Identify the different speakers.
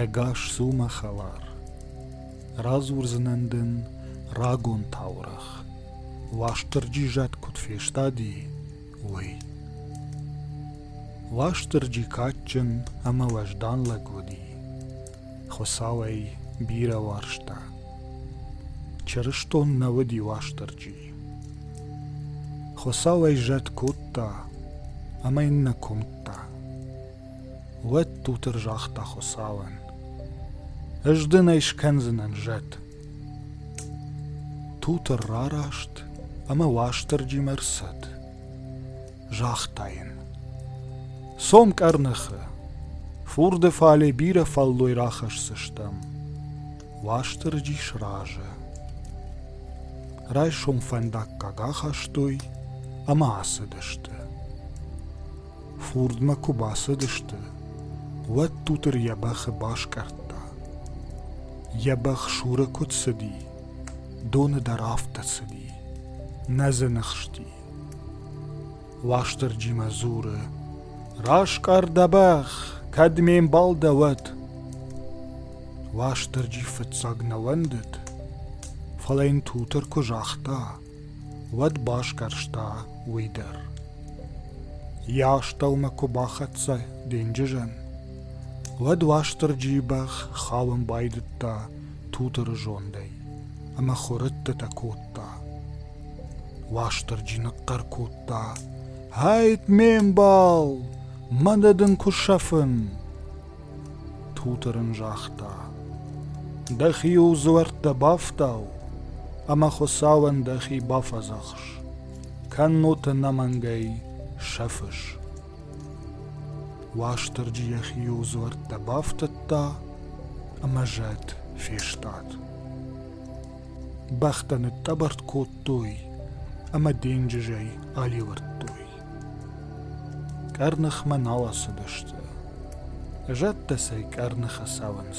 Speaker 1: Ӕгас у мӕ хӕлар. Радзурдзынӕн дын рагон таурӕгъ, Уастырджи зӕд куыд фестади, уый. Уастырджи кадджын ӕмӕ уӕздан лӕг уыди. Хуыцау ӕй бирӕ уарзта. Чырыстон нӕ уыди Уастырджи. Хуыцау ӕй зӕд кодта ӕмӕ йын нӕ куымдта. Уӕддутыр загъта Хуыцауӕн: Ӕз дын ӕй скӕндзынӕн зӕд. Тутыр рараст ӕмӕ Уастырджимӕ рцӕд. загъта йын. Цом къӕрныхы, фурды фале бирӕ фӕллой рахӕсдзыстӕм. Уастырджи сразы. Райсом фӕндаггаг ахастой ӕмӕ ацыдысты. Фурдмӕ куы бацыдысты, уӕд Тутыр йӕ бӕхы баскъӕрдта. Йӕ бӕх Шуры куыд цыди, доны дӕр афтӕ цыди, нӕ дзы ныхсти. Уастырджимӕ дзуры: «Раскъӕр дӕ бӕх, кӕд ме мбал дӕ, уӕд!» Уастырджи фыццаг нӕ уӕндыд, фӕлӕ йын Тутыр куы загъта, уӕд басгӕрста уый дӕр. Йӕ астӕумӕ куы бахӕццӕ денджызӕн, уӕд Уастырджийы бӕх хауын байдыдта Тутыры зондӕй ӕмӕ хуырӕттытӕ кодта, Уастырджи ныхъхъӕр кодта: «Ӕйт, ме мбал, мӕнӕ дын куы сӕфын!» Тутыр ын загъта: «Дӕхи-иу дзуӕрттӕ бафтау, ӕмӕ Хуыцауӕн дӕхи бафӕдзӕхс. Кӕннод ӕнӕмӕнгӕй сӕфыс!» Уастырджи йӕхи-иу дзуӕрттӕ бафтыдта ӕмӕ зӕд фестад. Бӕхтӕ ныттъӕбӕртт кодтой ӕмӕ денджызӕй алӕвӕрдтой. Къӕрныхмӕ нал ацыдысты. Зӕдтӕ сӕ къӕрныхы цӕуынц.